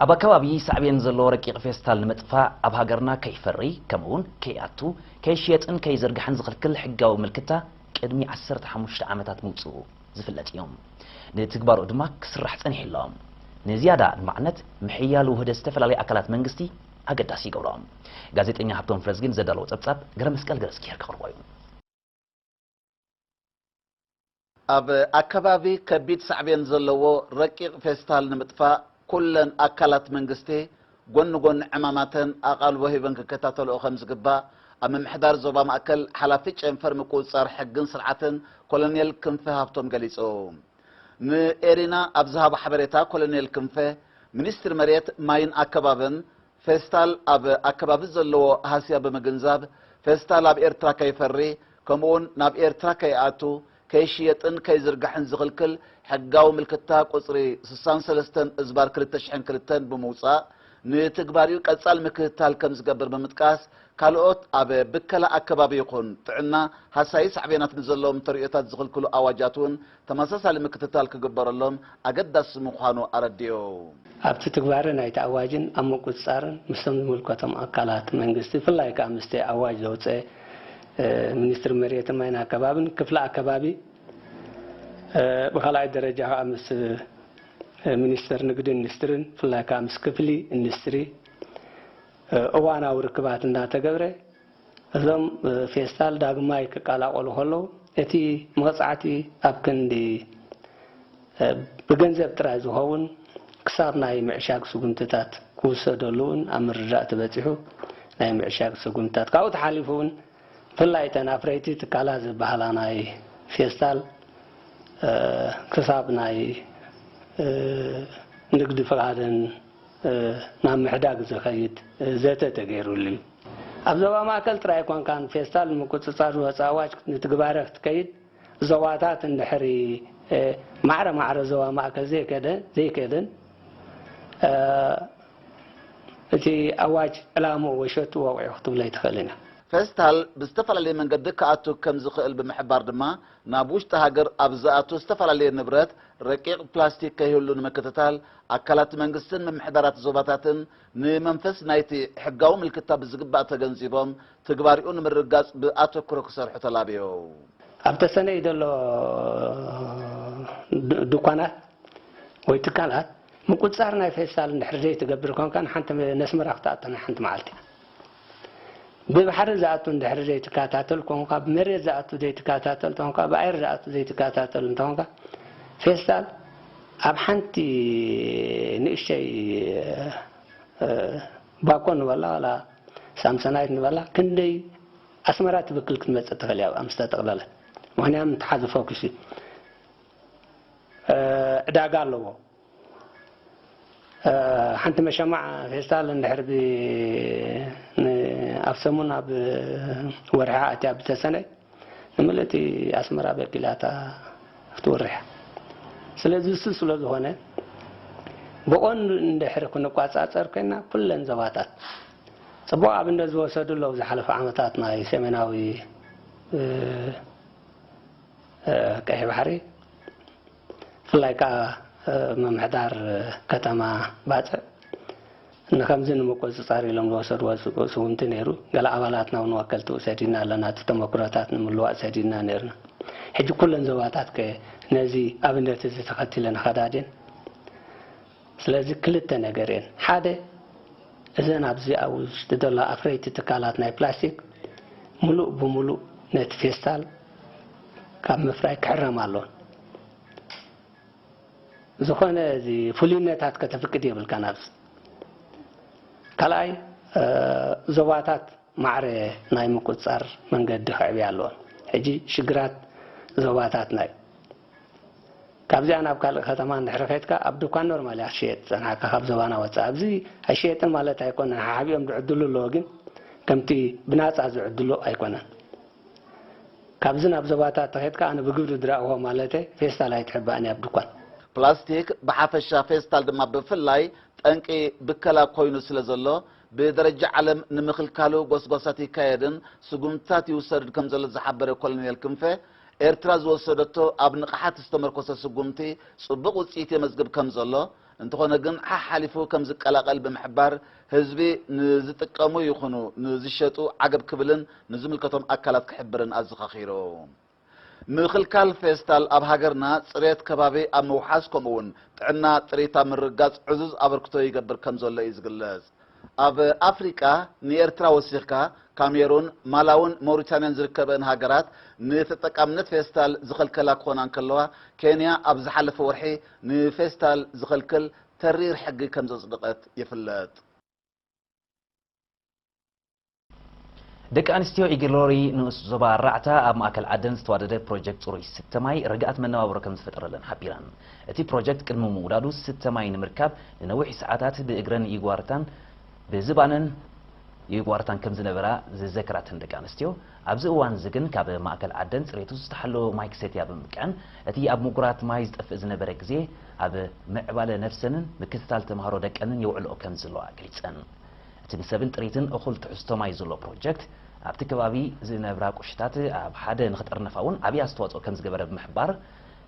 ኣብ ኣከባቢ ሳዕቤን ዘለዎ ረቂቕ ፌስታል ንምጥፋእ ኣብ ሃገርና ከይፈሪ ከምኡ ውን ከይኣቱ፣ ከይሽየጥን ከይዝርጋሕን ዝኽልክል ሕጋዊ ምልክታ ቅድሚ ዓሰርተ ሓሙሽተ ዓመታት ምውጽኡ ዝፍለጥ እዩ። ንትግባረኡ ድማ ክስራሕ ጸኒሑ ኣሎ። ንዝያዳ ኣድማዕነት ምሕያል ውህደት ዝተፈላለዩ ኣካላት መንግስቲ ኣገዳሲ ይገብሮ። ጋዜጠኛ ሃብቶም ፍረዝጊን ዘዳለዎ ጸብጻብ ገረመስቀል ገረዝጊሄር ከቕርቦ እዩ። ኣብ ኣከባቢ ከቢድ ሳዕቤን ዘለዎ ረቂቕ ፌስታል ንምጥፋእ ኩለን ኣካላት መንግስቲ ጎኒ ጎኒ ዕማማተን ኣቓልቦ ሂበን ክከታተልኦ ከምዝግባእ ኣብ ምምሕዳር ዞባ ማእከል ሓላፊ ጨንፈር ምቁጽጻር ሕግን ስርዓትን ኮሎኔል ክንፈ ሃብቶም ገሊጾም። ንኤሪና ኣብ ዝሃቦ ሓበሬታ ኮሎኔል ክንፈ፣ ሚኒስትሪ መሬት፣ ማይን ኣከባብን ፌስታል ኣብ ኣከባቢ ዘለዎ ሃስያ ብምግንዛብ ፌስታል ኣብ ኤርትራ ከይፈሪ ከምኡ'ውን ናብ ኤርትራ ከይኣቱ፣ ከይሽየጥን ከይዝርጋሕን ዝኽልክል ሕጋዊ ምልክታ ቁጽሪ ስሳን ሰለስተን እዝባር ክልተ ሽሕን ክልተን ብምውጻእ ንትግባሪኡ ቀጻሊ ምክትታል ከምዝገብር ብምጥቃስ ካልኦት ኣብ ብከላ ኣከባቢ ይኹን ጥዕና ሃሳዪ ሳዕቤናት ንዘለዎም ተርእዮታት ዝኽልክሉ ኣዋጃት'ውን ተመሳሳሊ ምክትታል ክግበረሎም ኣገዳሲ ምዃኑ ኣረዲኡ። ኣብቲ ትግባረ ናይቲ ኣዋጅን ኣብ ምቁፅፃርን ምስቶም ዝምልከቶም ኣካላት መንግስቲ ብፍላይ ከዓ ምስቲ ኣዋጅ ዘውፀ ሚኒስትሪ መሬትን ማይን ኣከባቢን ክፍሊ ኣከባቢ ብካልኣይ ደረጃ ከዓ ምስ ሚኒስቴር ንግድን ኢንዱስትሪን ብፍላይ ከዓ ምስ ክፍሊ ኢንዱስትሪ እዋናዊ ርክባት እንዳተገብረ እዞም ፌስታል ዳግማይ ክቀላቐሉ ከለዉ እቲ መቕጻዕቲ ኣብ ክንዲ ብገንዘብ ጥራይ ዝኸውን ክሳብ ናይ ምዕሻግ ስጉምትታት ክውሰደሉ'ውን ኣብ ምርዳእ ተበጺሑ። ናይ ምዕሻግ ስጉምትታት ካብኡ ተሓሊፉ'ውን ብፍላይ እተን ኣፍረይቲ ትካላት ዝበሃላ ናይ ፌስታል ክሳብ ናይ ንግዲ ፍቓደን ናብ ምሕዳግ ዘኸይድ ዘተ ተገይሩሉ እዩ። ኣብ ዞባ ማእከል ጥራይ ኣይኮንካን ፌስታል ንምቁጽጻር ዝወጸ ኣዋጅ ንትግባረ ክትከይድ ዞባታት እንድሕሪ ማዕረ ማዕረ ዞባ ማእከል ዘይከደ ዘይከደን እቲ ኣዋጅ ዕላምኡ ወይ ሸትኡ ወቒዑ ክትብሎ ኣይትኽእልን ኢኻ። ፌስታል ብዝተፈላለየ መንገዲ ክኣቱ ከምዝኽእል ብምሕባር ድማ፣ ናብ ውሽጢ ሃገር ኣብ ዝኣቱ ዝተፈላለየ ንብረት ረቂቕ ፕላስቲክ ከይህሉ ንምክትታል፣ ኣካላት መንግስትን ምምሕዳራት ዞባታትን ንመንፈስ ናይ'ቲ ሕጋዊ ምልክታ ብዝግባእ ተገንዚቦም ትግባሪኡ ንምርግጋጽ ብኣተኩሮ ክሰርሑ ተላብዮም። ኣብ ተሰነይ ዘሎ ዱኳናት ወይ ትካላት ምቁጽጻር ናይ ፌስታል እንድሕሪ ዘይትገብር ኮንካ ንሓንቲ ነስመራ ክትኣቱ ናይ ሓንቲ መዓልቲ። ብባሕሪ ዝኣቱ እንድሕሪ ዘይትካታተል ኮንካ ብመሬት ዝኣቱ ዘይትካታተል ተኾንካ ብኣየር ዝኣቱ ዘይትካታተል እንተኾንካ ፌስታል ኣብ ሓንቲ ንእሽተይ ባኮ ንበላ ዋላ ሳምሰናይት ንበላ ክንደይ ኣስመራ ትብክል ክትመፅእ ትኽእል እያ ኣብኣ ምስ ተጠቕለለት ምክንያቱ ተሓዚ ፎኪስ እዩ ዕዳጋ ኣለዎ ሓንቲ መሸማዕ ፌስታል እንድሕር ብ ን ኣብ ሰሙን ኣብ ወርሒ ኣትያ ብተሰነ ንምልእቲ ኣስመራ በኪላታ ክትወርሕ ስለዚ እሱ ስለ ዝኾነ ብቐንዱ እንድሕር ክንቋጻጸር ኮይና ኩለን ዞባታት ጽቡቕ ኣብነት ዝወሰዱ ኣለዉ ዝሓለፈ ዓመታት ናይ ሰሜናዊ ቀይሕ ባሕሪ ብፍላይ ከኣ ምምሕዳር ከተማ ባጽዕ ንከምዚ ንምቁጽጻር ኢሎም ዝወሰድዎ ስጉምቲ ነይሩ። ገለ ኣባላትና ውን ወከልቱ ሰዲድና ኣለና፣ እቲ ተመኩሮታት ንምልዋጥ ሰዲድና ነይርና። ሕጂ ኩለን ዞባታት ከ ነዚ ኣብነት እዚ ተኸቲለን ይኸዳ ድየን? ስለዚ ክልተ ነገር እየን፣ ሓደ እዘን ኣብዚ ኣብ ውሽጢ ዘለዋ ኣፍረይቲ ትካላት ናይ ፕላስቲክ ምሉእ ብምሉእ ነቲ ፌስታል ካብ ምፍራይ ክሕረማ ኣለዎን። ዝኾነ እዚ ፍሉይነታት ከተፍቅድ የብልካን ኣብዚ ካልኣይ ዞባታት ማዕረ ናይ ምቁፅፃር መንገዲ ክዕብያ ኣለዎን ሕጂ ሽግራት ዞባታትና እዩ ካብዚኣ ናብ ካልእ ከተማ እንድሕሪ ከድካ ኣብ ዱካን ኖርማል እያ ክትሽየጥ ዝጸናሕካ ካብ ዞባና ወጻኢ ኣብዚ ኣይሽየጥን ማለት ኣይኮነን ሓሓቢኦም ዝዕድሉ ኣለዎ ግን ከምቲ ብናጻ ዝዕድሉ ኣይኮነን ካብዚ ናብ ዞባታት ተኸድካ ኣነ ብግብሪ ዝረኣኹዎ ማለተይ ፌስታል ኣይትሕባእን እያ ኣብ ዱኳን ፕላስቲክ ብሓፈሻ ፌስታል ድማ ብፍላይ ጠንቂ ብከላ ኮይኑ ስለ ዘሎ ብደረጃ ዓለም ንምኽልካሉ ጎስጓሳት ይካየድን ስጉምትታት ይውሰድን ከም ዘሎ ዝሓበረ ኮሎኔል ክንፈ ኤርትራ ዝወሰደቶ ኣብ ንቕሓት ዝተመርኮሰ ስጉምቲ ጽቡቕ ውጽኢት የመዝግብ ከም ዘሎ፣ እንተኾነ ግን ሓሓሊፉ ከም ዝቀላቐል ብምሕባር፣ ህዝቢ ንዝጥቀሙ ይኹኑ ንዝሸጡ ዓገብ ክብልን ንዝምልከቶም ኣካላት ክሕብርን ኣዘኻኺሮም። ምኽልካል ፌስታል ኣብ ሃገርና ጽሬት ከባቢ ኣብ ምውሓስ ከምኡ'ውን ጥዕና ጥሪት ኣብ ምርግጋጽ ዕዙዝ ኣበርክቶ ይገብር ከም ዘሎ እዩ ዝግለጽ። ኣብ ኣፍሪቃ ንኤርትራ ወሲኽካ ካሜሩን፣ ማላውን ሞሪታንያን ዝርከበእን ሃገራት ንተጠቃምነት ፌስታል ዝኸልከላ ክኾና እንከለዋ፣ ኬንያ ኣብ ዝሓለፈ ወርሒ ንፌስታል ዝኸልክል ተሪር ሕጊ ከምዘጽድቐት ይፍለጥ። ደቂ ኣንስትዮ ኢግሎሪ ንኡስ ዞባ ራዕታ ኣብ ማእከል ዓደን ዝተዋደደ ፕሮጀክት ጽሩይ ዝስተ ማይ ርግኣት መነባብሮ ከምዝፈጠረለን ሓቢረን። እቲ ፕሮጀክት ቅድሚ ምውዳዱ ዝስተ ማይ ንምርካብ ንነዊሕ ሰዓታት ብእግረን ይጓርታን ብዝባነን ይጓርታን ከምዝነበራ ዝዘከራ እተን ደቂ ኣንስትዮ፣ ኣብዚ እዋን'ዚ ግን ካብ ማእከል ዓደን ጽሬቱ ዝተሓለወ ማይ ክሰትያ ብምብቅዐን እቲ ኣብ ምጉራት ማይ ዝጠፍእ ዝነበረ ግዜ ኣብ ምዕባለ ነብሰንን ምክትታል ተማሃሮ ደቀንን የውዕልኦ ከምዘለዋ ገሊጸን። እቲ ንሰብን ጥሪትን እኹል ትሕዝቶ ማይ ዝሎ ፕሮጀክት፣ ኣብቲ ከባቢ ዝነብራ ቁሽታት ኣብ ሓደ ንክጥርነፋ እውን ዓብዪ ኣስተዋፅኦ ከምዝገበረ ብምሕባር፣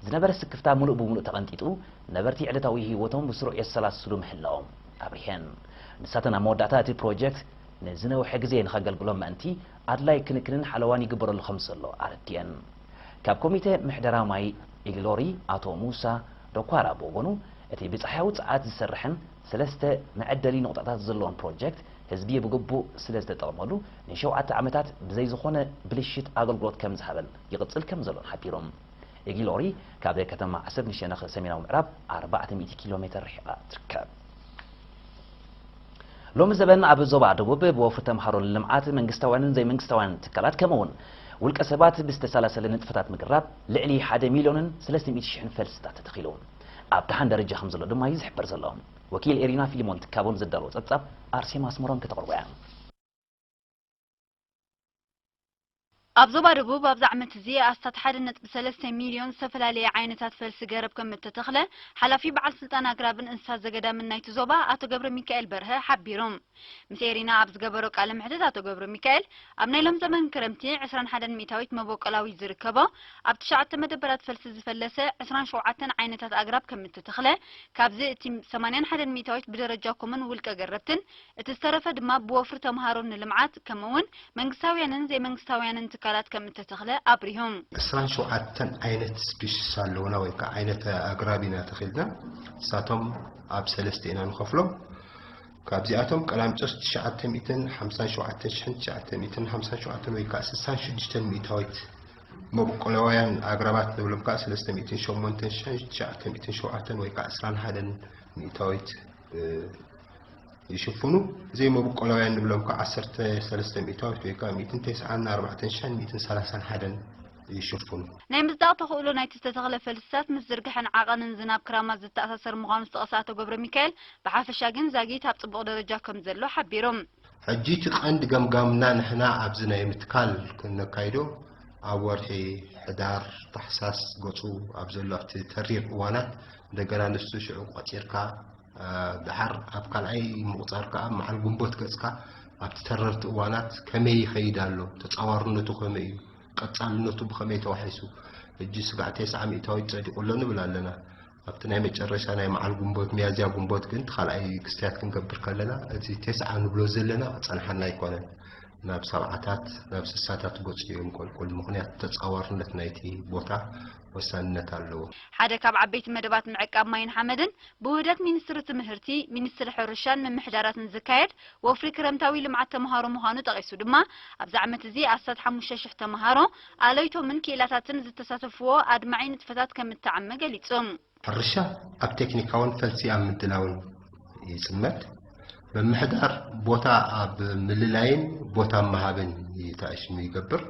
ዝነበረ ስክፍታ ሙሉእ ብሙሉእ ተቐንጢጡ ነበርቲ ዕለታዊ ህይወቶም ብስሩዕ የሰላስሉ ምህላዎም ኣብሪሀን። ንሳተን ኣብ መወዳእታ እቲ ፕሮጀክት ንዝነውሐ ግዜ ንከገልግሎም ምእንቲ ኣድላይ ክንክንን ሓለዋን ይግበረሉ ከምዘሎ ኣረዲኤን። ካብ ኮሚቴ ምሕደራ ማይ ኢሊሎሪ ኣቶ ሙሳ ዶኳራ ብወገኑ እቲ ብፀሓያዊ ፀዓት ዝሰርሐን ሰለስተ መዐደሊ ነቑጣታት ዘለዎም ፕሮጀክት ህዝቢ ብግቡእ ስለ ዝተጠቕመሉ ንሸውዓተ ዓመታት ብዘይ ዝኾነ ብልሽት ኣገልግሎት ከም ዝሃበን ይቕፅል ከም ዘሎን ሓቢሮም። ኢጊሎሪ ካብ ከተማ ዓሰብ ንሸነኽ ሰሜናዊ ምዕራብ ኣርባዕተ ሚእቲ ኪሎ ሜተር ርሒቓ ትርከብ። ሎሚ ዘበን ኣብ ዞባ ደቡብ ብወፍሪ ተምሃሮ ንልምዓት መንግስታውያንን ዘይመንግስታውያንን ትካላት ከምኡ እውን ውልቀ ሰባት ብዝተሰላሰለ ንጥፈታት ምግራብ ልዕሊ ሓደ ሚልዮንን ሰለስተ ሚእቲ ሽሕን ፈልስታት ተተኺሉ። ኣብ ደሓን ደረጃ ከምዘሎ ድማ'ዩ ዝሕበር ዘሎ። ወኪል ኤሪና ፊሊሞን ትካቦ ንዘዳለዎ ጸብጻብ ኣርሴማ ኣስመሮም ከተቕርቦ'ያ። ኣብ ዞባ ደቡብ ኣብዚ ዓመት'ዚ ኣስታት ሓደ ነጥቢ ሰለስተ ሚልዮን ዝተፈላለየ ዓይነታት ፈልሲ ገረብ ከምእተተኽለ ሓላፊ በዓል ስልጣን ኣግራብን እንስሳ ዘገዳምን ናይቲ ዞባ ኣቶ ገብረሚካኤል በርሀ ሓቢሩ። ምስ ኤሪና ኣብ ዝገበሮ ቃለ መሕትት ኣቶ ገብረሚካኤል፣ ኣብ ናይ ሎም ዘመን ክረምቲ ዕስራን ሓደን ሚእታዊት መቦቆላዊት ዝርከቦ ኣብ ትሽዓተ መደበራት ፈልሲ ዝፈለሰ ዕስራን ሸውዓተን ዓይነታት ኣግራብ ከምእተተኽለ ካብዚ እቲ ሰማንያን ሓደን ሚእታዊት ብደረጃ ኮሙን ውልቀ ገረብትን እቲ ዝተረፈ ድማ ብወፍሪ ተምሃሮን ንልምዓት ከምእውን መንግስታውያንን ዘይመንግስታውያንን ትካላት ከምእተተኽለ ኣብሪሁ። ዕስራን ሸውዓተን ዓይነት ስፒሽስ ኣለውና ወይ ከዓ ዓይነት ኣግራብ ኢና ተኺልና ንሳቶም ኣብ ሰለስተ ኢና ንኸፍሎም። ካብዚኣቶም ቀላሚጦስ ትሽዓተ ሚእትን ሓምሳን ሸውዓተን ሽሕን ትሽዓተ ሚእትን ሓምሳን ሸውዓተን ወይ ከኣ ስሳን ሽዱሽተን ሚእታዊት መብቆለዋያን ኣግራባት ንብሎም ከኣ ሰለስተ ሚእትን ሸሞንተን ሽሕን ትሽዓተ ሚእትን ሸውዓተን ወይ ከኣ ዕስራን ሓደን ሚእታዊት ይሽፍኑ። ዘይመብቆላውያን ንብሎም ከኣ ዓሰርተ ሰለስተ ሚእታዊት ወይ ከኣ ሚእትን ቴስዓን ኣርባዕተን ሽሕን ሚእትን ሰላሳን ሓደን ይሽፍኑ። ናይ ምጽዳቕ ተኽእሎ ናይቲ ዝተተኽለ ፈልስታት ምስ ዝርግሐን ዓቐንን ዝናብ ክራማት ዝተኣሳሰር ምዃኑ ዝጠቐሰ ኣቶ ገብረሚካኤል፣ ብሓፈሻ ግን ዛጊት ኣብ ጽቡቕ ደረጃ ከም ዘሎ ሓቢሩ። ሕጂ እቲ ቀንዲ ገምጋምና ንሕና ኣብዚ ናይ ምትካል እነካይዶ ኣብ ወርሒ ሕዳር፣ ታሕሳስ ገጹ ኣብ ዘሎ ኣብቲ ተሪር እዋናት እንደገና ንሱ ሽዑ ቆጺርካ ደሓር ኣብ ካልኣይ ምቑጻር ከኣ መዓል ግንቦት ገጽካ ኣብቲ ተረርቲ እዋናት ከመይ ይኸይድ ኣሎ፣ ተጻዋርነቱ ከመይ እዩ፣ ቀጻልነቱ ብኸመይ ተዋሒሱ ሕጂ ስጋዕ ቴስዓ ሚእታዊት ጸዲቑ ኣሎ ንብል ኣለና። ኣብቲ ናይ መጨረሻ ናይ መዓል ጉንቦት፣ ሚያዝያ ጉንቦት፣ ግን እቲ ካልኣይ ክስትያት ክንገብር ከለና እቲ ቴስዓ ንብሎ ዘለና ክጸንሓና ኣይኮነን። ናብ ሰብዓታት ናብ ስሳታት ገጹ እዩ እንቆልቁል። ምኽንያቱ ተጻዋርነት ናይቲ ቦታ ወሳንነት ኣለዎ። ሓደ ካብ ዓበይቲ መደባት ምዕቃብ ማይን ሓመድን ብውህደት ሚኒስትሪ ትምህርቲ፣ ሚኒስትሪ ሕርሻን ምምሕዳራትን ዝካየድ ወፍሪ ክረምታዊ ልምዓት ተምሃሮ ምዃኑ ጠቒሱ ድማ፣ ኣብዚ ዓመት እዚ ኣስታት ሓሙሽተ ሽሕ ተምሃሮ፣ ኣለይቶምን ክኢላታትን ዝተሳተፍዎ ኣድማዒ ንጥፈታት ከም እተዓመ ገሊጹ። ሕርሻ ኣብ ቴክኒካውን ፈልሲ ኣብ ምድላውን ይጽመድ። ምምሕዳር ቦታ ኣብ ምልላይን ቦታ ምሃብን ይተኣሽሙ ይገብር።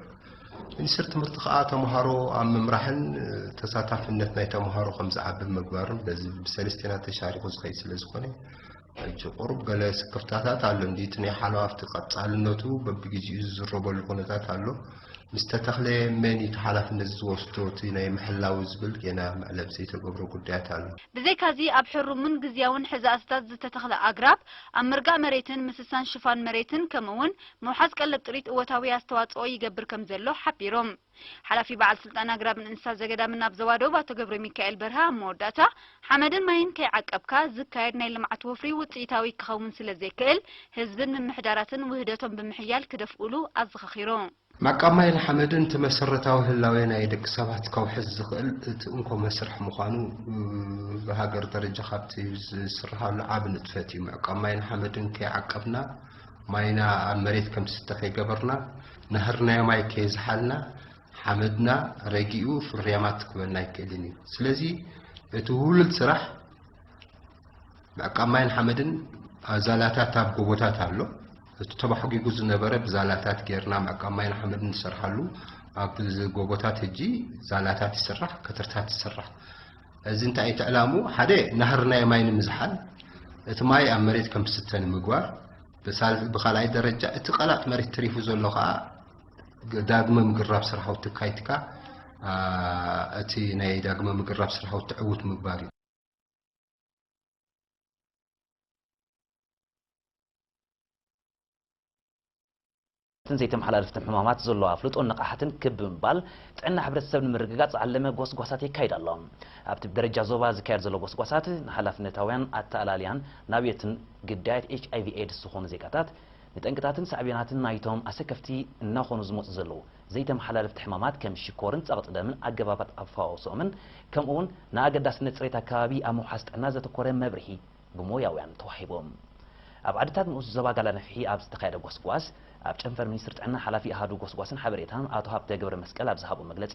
ሚኒስትሪ ትምህርቲ ከኣ ተምሃሮ ኣብ ምምራሕን ተሳታፍነት ናይ ተምሃሮ ከም ዝዓቢ ምግባርን በዚ ብሰለስቴና ተሻሪኹ ዝኸይድ ስለ ዝኾነ፣ ሕጂ ቁሩብ ገለ ስክፍታታት ኣሎ እንድዩ፣ እቲ ናይ ሓለዋ ኣብቲ ቀጻልነቱ በብግዜኡ ዝዝረበሉ ኩነታት ኣሎ፣ ምስ ተተኽለ መን እዩ እቲ ሓላፍነት ዝወስዶ እቲ ናይ ምሕላዉ ዝብል ጌና መዕለቢ ዘይተገብሮ ጉዳያት ኣሎ። ብዘይካዚ ኣብ ሕሩምን ግዝያውን ሕዛእትታት ዝተተኽለ ኣግራብ፣ ኣብ ምርጋእ መሬትን ምስሳን ሽፋን መሬትን ከምእውን ምውሓዝ ቀለብ ጥሪት እወታዊ ኣስተዋጽኦ ይገብር ከምዘሎ ሓቢሮም። ሓላፊ በዓል ስልጣን ኣግራብን እንስሳ ዘገዳምን ኣብ ዞባ ደቡብ ኣቶ ገብረሚካኤል በርሀ ኣብ መወዳእታ፣ ሓመድን ማይን ከይዓቀብካ ዝካየድ ናይ ልምዓት ወፍሪ ውፅኢታዊ ክኸውን ስለዘይክእል ህዝብን ምምሕዳራትን ውህደቶም ብምሕያል ክደፍኡሉ ኣዘኻኺሩ። ምዕቃብ ማይን ሓመድን እቲ መሰረታዊ ህላዌ ናይ ደቂ ሰባት ከውሕስ ዝኽእል እቲ እንኮ መስርሕ ምዃኑ ብሃገር ደረጃ ካብቲ ዝስርሃሉ ዓቢ ንጥፈት እዩ። ምዕቃብ ማይን ሓመድን ከይዓቀብና ማይና ኣብ መሬት ከምዝስተ ከይገበርና፣ ንሀርናዮ ማይ ከየዝሓልና ሓመድና ረጊኡ ፍርያማት ክበና ኣይክእልን እዩ። ስለዚ እቲ ውህሉል ስራሕ ምዕቃብ ማይን ሓመድን ኣብ ዛላታት ኣብ ጎቦታት ኣሎ። እቲ ተባሕጒጉ ዝነበረ ብዛላታት ጌርና ምዕቃብ ማይን ሓመድን ንሰርሓሉ ኣብ ጎቦታት ሕጂ ዛላታት ይስራሕ፣ ከትርታት ይስራሕ። እዚ እንታይ እቲ ዕላሙ ሓደ ናህርናዮ ማይ ንምዝሓል እቲ ማይ ኣብ መሬት ከም ዝስተ ንምግባር ብኻልኣይ ደረጃ እቲ ቀላጥ መሬት ተሪፉ ዘሎ ከኣ ዳግመ ምግራብ ስራሕውቲ ኣካይትካ እቲ ናይ ዳግመ ምግራብ ስራሕውቲ ዕውት ምግባር እዩ። እተን ዘይተመሓላለፍትን ሕማማት ዘሎ ኣፍልጦን ንቕሓትን ክብ ብምባል ጥዕና ሕብረተሰብ ንምርግጋፅ ዝዓለመ ጎስጓሳት የካይድ ኣሎ። ኣብቲ ብደረጃ ዞባ ዝካየድ ዘሎ ጎስጓሳት ንሓላፍነታውያን ኣተኣላልያን ናብዮትን ግዳያት ኤች ኣይቪ ኤድስ ዝኾኑ ዜጋታት ንጠንቅታትን ሳዕቤናትን ናይቶም ኣሰከፍቲ እናኾኑ ዝመፁ ዘለዉ ዘይተመሓላለፍቲ ሕማማት ከም ሽኮርን ፀቕጢ ደምን ኣገባባት ኣፈዋውስኦምን ከምኡውን ንኣገዳስነት ፅሬት ኣከባቢ ኣብ ምውሓስ ጥዕና ዘተኮረ መብርሂ ብሞያውያን ተዋሂቦም። ኣብ ዓድታት ንኡስ ዞባ ጋላነፍሒ ኣብ ዝተኻየደ ጎስጓስ፣ ኣብ ጨንፈር ሚኒስትሪ ጥዕና ሓላፊ ኣሃዱ ጎስጓስን ሓበሬታን ኣቶ ሃብተ ገብረመስቀል ኣብ ዝሃቦ መግለጺ፣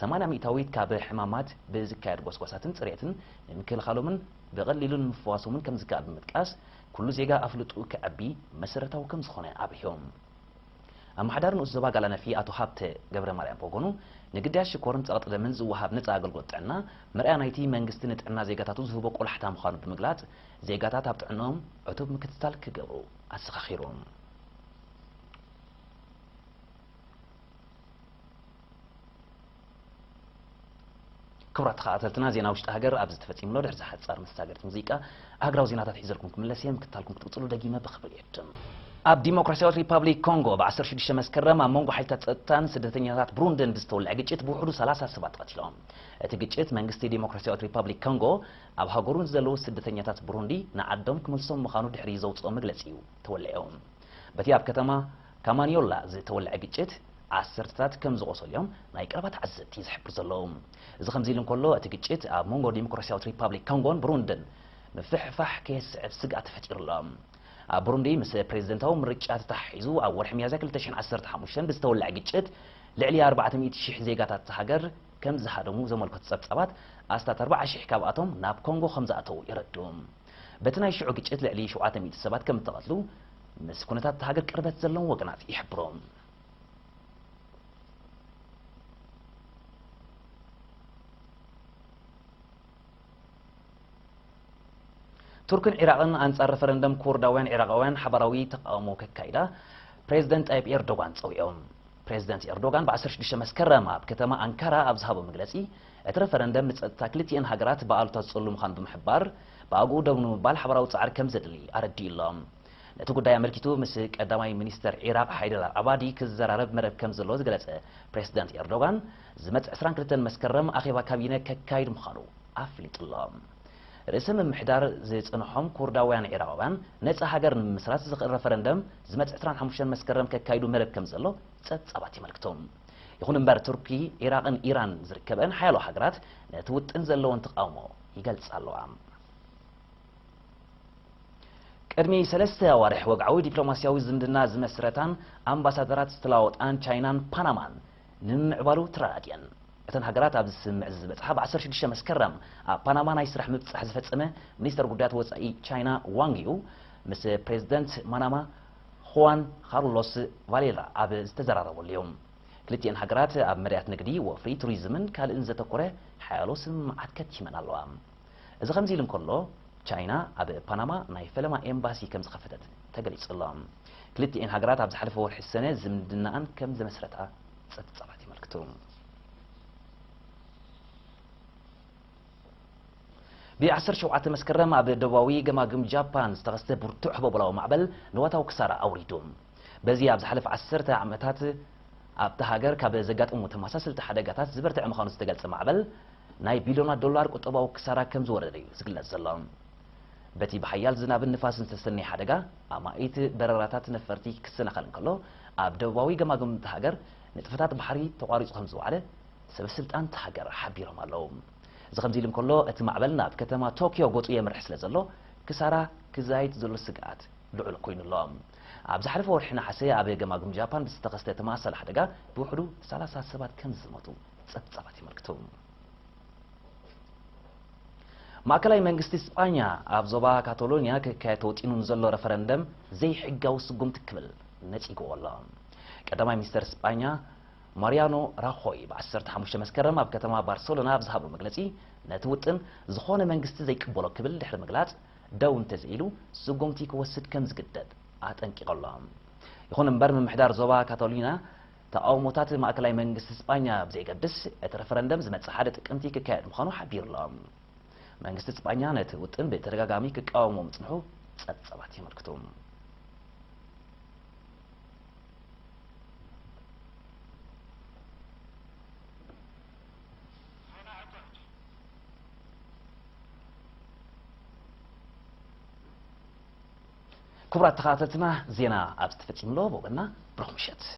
ሰማንያ ሚእታዊት ካብ ሕማማት ብዝካየድ ጎስጓሳትን ጽሬትን ንምክልኻሎምን ብቐሊሉ ንምፍዋሶምን ከምዝከኣል ብምጥቃስ፣ ኩሉ ዜጋ ኣፍልጥኡ ከዕቢ መሰረታዊ ከምዝኾነ ኣብሪሆም። ኣመሓዳሪ ንኡስ ዞባ ጋላነፊ ኣቶ ሃብተ ገብረማርያም ብወገኑ፣ ንግዳያት ሽኮርን ጸቕጢ ደምን ዝወሃብ ነጻ ኣገልግሎት ጥዕና፣ መርኣያ ናይቲ መንግስቲ ንጥዕና ዜጋታቱ ዝህቦ ቆላሕታ ምዃኑ ብምግላጽ፣ ዜጋታት ኣብ ጥዕንኦም ዕቱብ ምክትታል ክገብሩ ኣዘኻኺሩ። ክቡራት ተኸታተልትና ዜና ውሽጢ ሃገር ኣብዚ ተፈጺሙ ኣሎ። ድሕሪ ሓጻር መሳገሪት ሙዚቃ ኣህግራዊ ዜናታት ሒዘልኩም ክምለስ እየ። ምክታልኩም ክትቅጽሉ ደጊመ ብኽብሪ እዕድም። ኣብ ዲሞክራስያዊት ሪፓብሊክ ኮንጎ ብ ዓሰርተ ሽዱሽተ መስከረም ኣብ መንጎ ሓይልታት ጸጥታን ስደተኛታት ብሩንድን ብዝተወልዐ ግጭት ብውሕዱ ሰላሳ ሰባት ተቐቲሎም። እቲ ግጭት መንግስቲ ዲሞክራስያዊት ሪፓብሊክ ኮንጎ ኣብ ሃገሩ ንዘለዉ ስደተኛታት ብሩንዲ ንዓዶም ክመልሶም ምዃኑ ድሕሪ ዘውጽኦ መግለጺ'ዩ ተወሊዑ። በቲ ኣብ ከተማ እታ ማንዮላ ዝተወልዐ ግጭት ዓሰርተታት ከም ዝቖሰሉ'ዮም ናይ ቀረባ ተዓዘብቲ ዝሕብሩ ዘለዉ። እዚ ከምዚ'ሉ እንከሎ፣ እቲ ግጭት ኣብ መንጎ ዲሞክራስያዊት ሪፓብሊክ ኮንጎን ብሩንድን ምፍሕፋሕ ከየስዕብ ስግኣት ተፈጢሩ'ሎ። ኣብ ብሩንዲ ምስ ፕሬዝደንታዊ ምርጫ ተተሓሒዙ ኣብ ወርሒ ሚያዝያ ክልተ ሽሕን ዓሰርተ ሓሙሽተን ብዝተወልዐ ግጭት ልዕሊ ኣርባዕተ ሚእቲ ሽሕ ዜጋታት እታ ሃገር ከም ዝሃደሙ ዘመልከቱ ጸብጻባት ኣስታት ኣርብዓ ሽሕ ካብኣቶም ናብ ኮንጎ ከም ዝኣተዉ የረድኡ። በቲ ናይ ሽዑ ግጭት ልዕሊ ሸውዓተ ሚእቲ ሰባት ከም እተቐትሉ ምስ ኩነታት እታ ሃገር ቅርበት ዘለዎም ወገናት ይሕብሩ። ቱርክን ዒራቕን ኣንጻር ረፈረንደም ኩርዳውያን ዒራቓውያን ሓባራዊ ተቓውሞ ከካይዳ ፕሬዝደንት ጣይብ ኤርዶጋን ጸዊዖም። ፕሬዝደንት ኤርዶጋን ብ ዓሰርተ ሽዱሽተ መስከረም ኣብ ከተማ ኣንካራ ኣብ ዝሃቦ መግለጺ፣ እቲ ረፈረንደም ንጸጥታ ክልቲኤን ሃገራት ብኣሉታ ዝጽሉ ምዃኑ ብምሕባር፣ ብኣግኡ ደው ንምባል ሓባራዊ ጻዕሪ ከምዘድሊ ኣረዲኡ ኣሎ። ነቲ ጉዳይ ኣመልኪቱ ምስ ቀዳማይ ሚኒስተር ዒራቕ ሓይደር ኣልዓባዲ ክዘራረብ መደብ ከምዘለዎ ዝገለጸ ፕሬዝደንት ኤርዶጋን፣ ዝመጽእ ዕስራን ክልተን መስከረም ኣኼባ ካቢነ ከካይድ ምዃኑ ኣፍሊጡ'ሎ። ርእሰ ምምሕዳር ዝጸንሖም ኩርዳውያን ዒራቓውያን ነጻ ሃገር ንምምስራት ዝኽእል ረፈረንደም ዝመጽእ ዕስራን ሓሙሽተን መስከረም ከካይዱ መደብ ከምዘሎ ጸብጻባት የመልክቱ። ይኹን እምበር ቱርኪ፣ ዒራቕን ኢራን ዝርከበኣን ሓያሎ ሃገራት ነቲ ውጥን ዘለወን ተቓውሞ ይገልጻ ኣለዋ። ቅድሚ ሰለስተ ኣዋርሕ ወግዓዊ ዲፕሎማስያዊ ዝምድና ዝመስረታን ኣምባሳደራት ዝተለዋወጣን ቻይናን ፓናማን፣ ንምምዕባሉ ትራኣድ እየን። እተን ሃገራት ኣብዚ ስምምዕ እዚ ዝበጽሓ ብ ዓሰርተ ሽዱሽተ መስከረም ኣብ ፓናማ ናይ ስራሕ ምብጻሕ ዝፈጸመ ሚኒስተር ጉዳያት ወጻኢ ቻይና ዋንግ ዩ ምስ ፕሬዝደንት ማናማ ኹዋን ኻርሎስ ቫሌራ ኣብ ዝተዘራረብሉ ዩ። ክልቲኤን ሃገራት ኣብ መዳያት ንግዲ፣ ወፍሪ፣ ቱሪዝምን ካልእን ዘተኮረ ሓያሎ ስምምዓት ከቲመን ኣለዋ። እዚ ከምዚ'ሉ እንከሎ፣ ቻይና ኣብ ፓናማ ናይ ፈለማ ኤምባሲ ከም ዝኸፈተት ተገሊጹ'ሎ። ክልቲኤን ሃገራት ኣብ ዝሓለፈ ወርሒ ሰነ ዝምድናኣን ከም ዘመስረታ ጸብጻባት የመልክቱ። ብ ዓሰርተ ሸውዓተ መስከረም ኣብ ደቡባዊ ገማግም ጃፓን ዝተኸስተ ብርቱዕ ህቦቦላዊ ማዕበል ንዋታዊ ክሳራ ኣውሪዱ። በዚ ኣብ ዝሓለፈ ዓሰርተ ዓመታት ኣብታ ሃገር ካብ ዘጋጠሙ ተመሳሰልቲ ሓደጋታት ዝበርተዐ ምዃኑ ዝተገልጸ ማዕበል፣ ናይ ቢልዮናት ዶላር ቁጠባዊ ክሳራ ከም ዝወረደ እዩ ዝግለጽ ዘሎ። በቲ ብሓያል ዝናብን ንፋስን ዝተሰነየ ሓደጋ፣ ኣማኢት በረራታት ነፈርቲ ክሰናኸል እንከሎ፣ ኣብ ደቡባዊ ገማግም እታ ሃገር ንጥፈታት ባሕሪ ተቋሪጹ ከም ዝወዓለ ሰበስልጣን እታ ሃገር ሓቢሮም ኣለዉ። እዚ ከምዚ ኢሉ እንከሎ፣ እቲ ማዕበል ናብ ከተማ ቶክዮ ገጹ የምርሕ ስለ ዘሎ፣ ክሳራ ክዛይድ ዘሎ ስግኣት ልዑል ኰይኑ ኣሎ። ኣብ ዝሓለፈ ወርሒ ነሓሰ ኣብ ገማግም ጃፓን ብዝተኸስተ ተመሳሳሊ ሓደጋ ብውሕዱ ሰላሳ ሰባት ከም ዝሞቱ፣ ጸብጻባት የመልክቱ። ማእከላይ መንግስቲ ስጳኛ ኣብ ዞባ ካቶሎንያ ክካየድ ተወጢኑ ንዘሎ ረፈረንደም ዘይሕጋዊ ስጉምቲ ክብል ነጺግዎ ኣሎ። ቀዳማይ ሚኒስተር ስጳኛ ማርያኖ ራኾይ ብ15 መስከረም ኣብ ከተማ ባርሰሎና ኣብ ዝሃቦ መግለጺ ነቲ ውጥን ዝኾነ መንግስቲ ዘይቅበሎ ክብል ድሕሪ ምግላጽ ደው እንተዘይሉ ስጉምቲ ክወስድ ከም ዝግደድ ኣጠንቂቑ ኣሎ። ይኹን እምበር ምምሕዳር ዞባ ካቶሊና ተቓውሞታት ማእከላይ መንግስቲ ስጳኛ ብዘይገድስ፣ እቲ ረፈረንደም ዝመጽእ ሓደ ጥቅምቲ ክካየድ ምዃኑ ሓቢሩ'ሎ። መንግስቲ ስጳኛ ነቲ ውጥን ብተደጋጋሚ ክቃወሞ ምጽንሑ ጸብጻባት የመልክቱ። ክቡራት ተኸታተልትና ዜና ኣብዚ ተፈጺሙ'ሎ። ብወገንና ብሩኽ ምሸት።